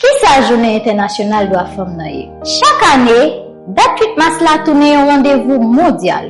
Ki sa Jounen Entènasyonal Dwa Fanm nan ye? Chak ane, dat 8 mas la tounen yon randevou mondyal,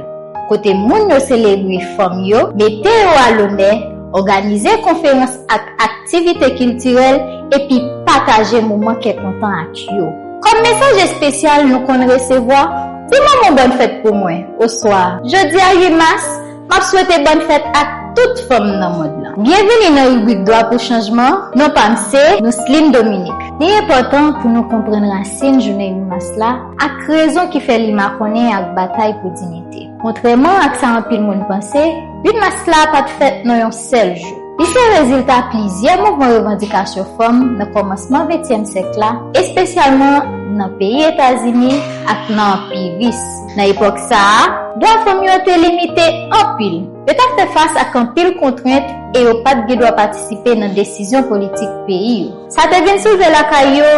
kote moun yo selebre fanm yo, mete yo a lonè, òganize konferans ak aktivite kiltirèl, epi pataje moman kè kontan ak yo. Kòm mesaj espesyal nou konn resevwa, Ti Manman Bòn Fèt pou mwen! oswa Jodi a 8 mas, Map swete bòn fèt ak tout fanm nan mond lan. Byenvini nan ribrik Dwa pou Chanjman, non pam se Nousline Dominique. Li enpòtan pou nou konprann rasin jounen 8 mas la ak rezon ki fè li makonnen ak batay pou dinite. Kontrèman ak sa anpil moun panse, 8 mas la pat fèt nan yon sèl jou. Li se rezilta plizyè mouvman revandikasyon fanm nan kòmansman ventyèm syèk la, espesyalman nan peyi Etazini ak nan Anpi Ris. Nan epòk sa a, dwa fanm yo te limite anpil. Yo t ap fè fas ak anpil kontrent e yo pa t gen dwa patisipe nan desizyon politik peyi yo. Sa te vin soulve lakay yo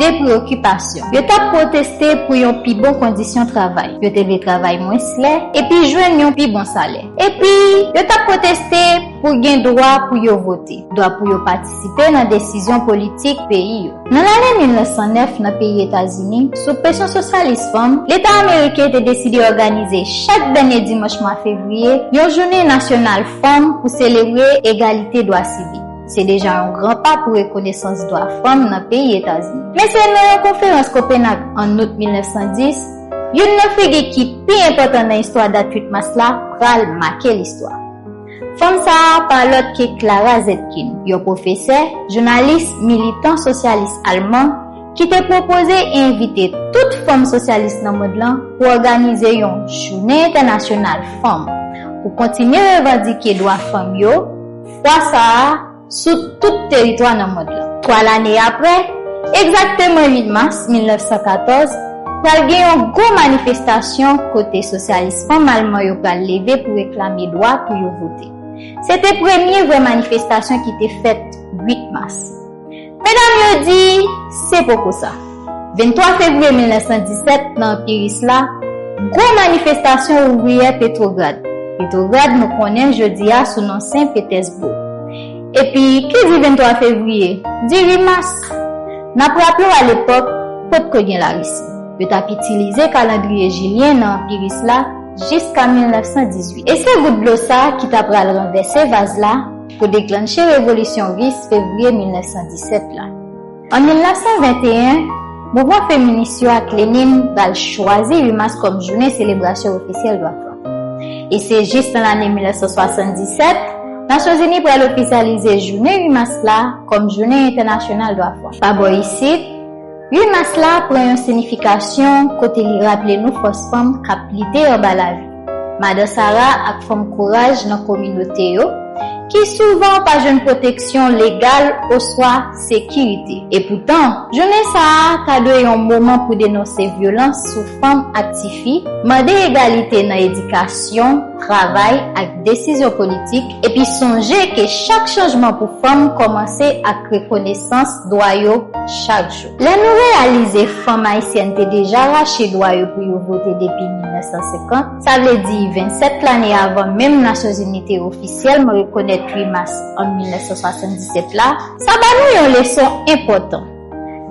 de preyokipasyon. Yo t ap pwoteste pou yon pi bon kondisyon travay, yo te vle travay mwens lè epi jwenn yon pi bon salè. Epi, yo t ap pwoteste pou gen dwa pou yo vote, dwa pou yo patisipe. patisipe nan desizyon politik peyi yo. Nan lane 1909 nan peyi Etazini, sou presyon sosyalis fanm, Leta ameriken te deside òganize chak dènye dimanch mwa fevriye yon jounen nasyonal fanm pou selebre egalite dwa sivik. Se deja yon gran pa pou rekonesans dwa fanm nan peyi Etazini. Men se nan yon konferans Kopenag an out 1910, youn nan figi ki pi enpòtan nan istwa dat 8 mas la pral make listwa. Fanm sa a pa lòt ke Clara Zetkin, yon pwofesè, jounalis, militan sosyalis alman, ki te pwopoze e envite tout fanm sosyalis nan mond lan pou òganize yon Jounen Entènasyonal Fanm pou kontinye revandike dwa fanm yo, fwa sa a, sou tout teritwa nan mond lan. Twa lane apre, egzakteman 8 mas 1914, pral gen yon gwo manifestasyon kote sosyalis fanm alman yo pral leve pou reklame dwa pou yo vote. Se te premye vrè manifestasyon ki te fèt 8 mas. Medam yo di, Se poko sa. 23 fevriye 1917, nan Anpi Ris la, gwo manifestasyon ouvriyè Petwograd, Petrograd nou konnen jodi a sou non Sen Petèsboug. Epi, ki di 23 fevriye, di 8 mas. N ap raple w alepòk, potko gen Larisi. Yo t ap itilize kalandriye jilyen nan Anpi Ris la jiska 1918. E se gout dlo sa ki ta pral ranvèse vaz la, pou deklanche revolisyon ris fevriye 1917 la. An 1921, mouvman feminis yo ak Lenin pral chwazi 8 mas kòm jounen selebrasyon ofisyèl dwa fanm. E se jis nan lane 1977, Nasyonzini pral ofisyalize jounen 8 mas la kòm jounen entènasyonal dwa fanm. Pa bò isit, 8 mas la pran yon sinifikasyon kote li raple nou fòs fanm k ap lite anba lavi, madan sara ak fanm kouraj nan kominote yo, ki souvan pa jwenn pwoteksyon legal oswa sekirite. Epoutan, jounen sa a ta dwe yon moman pou denonse vyolans sou fanm ak tifi, mande egalite nan edikasyon, travay ak desizyon politik, Epi sonje ke chak chanjman pou fanm kòmanse ak rekonesans dwa yo chak jou. Lè nou reyalize fanm ayisyèn te deja rache dwa yo pou yo vote depi 1950, sa vle di 27 lane avan menm Nasyonzini te ofisyèlman rekonèt 8 mas an 1977 la, sa ba nou yon leson enpòtan.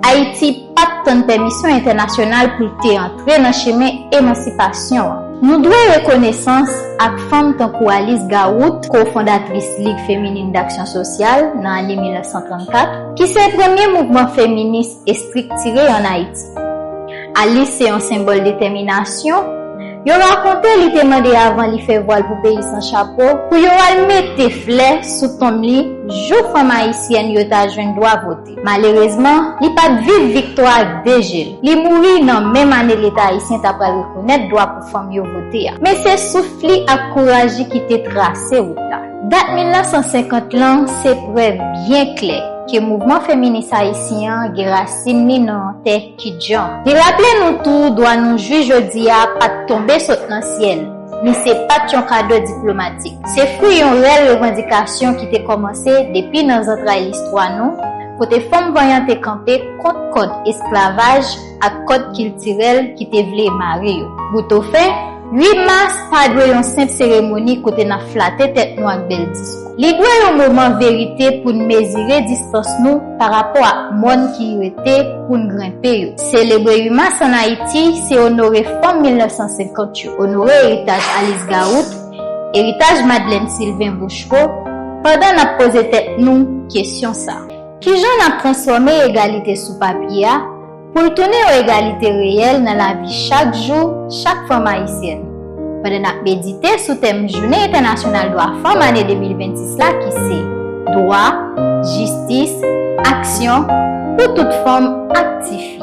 Ayiti pa t tann pèmisyon entènasyonal pou l te antre nan chemen emansipasyon an. Nou dwe rekonesans ak fanm tankou Alice Garoute, ko-fondatris Ligue Féminine d'Action Sociale nan ane 1934, ki se premye mouvman feminis estriktire ann Ayiti. Alice se yon senbòl detèminasyon. Yo rakonte li te mande avan li fè vwal pou peyi san chapo, pou yo al mete flè sou tonm li jou fanm ayisyèn yo ta jwenn dwa vote. Malerezman, li pa t viv viktwa a ak de je l. Li mouri nan menm ane Leta ayisyen ta pral rekonèt dwa pou fanm yo vote a. Men se souf li ak kouraj li ki te trase wout la. Dat 1950 lan se prèv byen klè ke mouvman feminis ayisyen an gen rasin li nan tè. Ki jan? Li raple nou tou dwa nou jwi jodi a pa t tonbe sot nan syèl, ni se pa t yon kado diplomatik. Se fwi yon rèl revandikasyon ki te kòmanse depi nan zantray listwa nou, kote fanm vanyan te kanpe kont kòd esklavaj ak kòd kiltirèl ki te vle mare yo. Boutofen, 8 mas pa dwe yon senp seremoni kote n ap flate tèt nou ak bèl diskou. Li dwe yon moman verite pou n mezire distans nou parapò ak mòn ki rete pou n grenpe yo. Selebre 8 mas ann Ayiti, se onore fanm 1950 yo, onore eritaj Alis Gawout, eritaj Madlèn Silven Bochko, pandan n ap poze tèt nou kesyon sa a. Kijan n ap transfòme egalite sou papye a? Pou l tounen yon egalite reyèl nan lavi chak jou chak fanm ayisyèn. Pandan n ap medite sou tèm Jounen Entènasyonal Dwa Fanm ane 2026 la ki se, Dwa, Jistis, Aksyon, pou tout fanm ak tifi.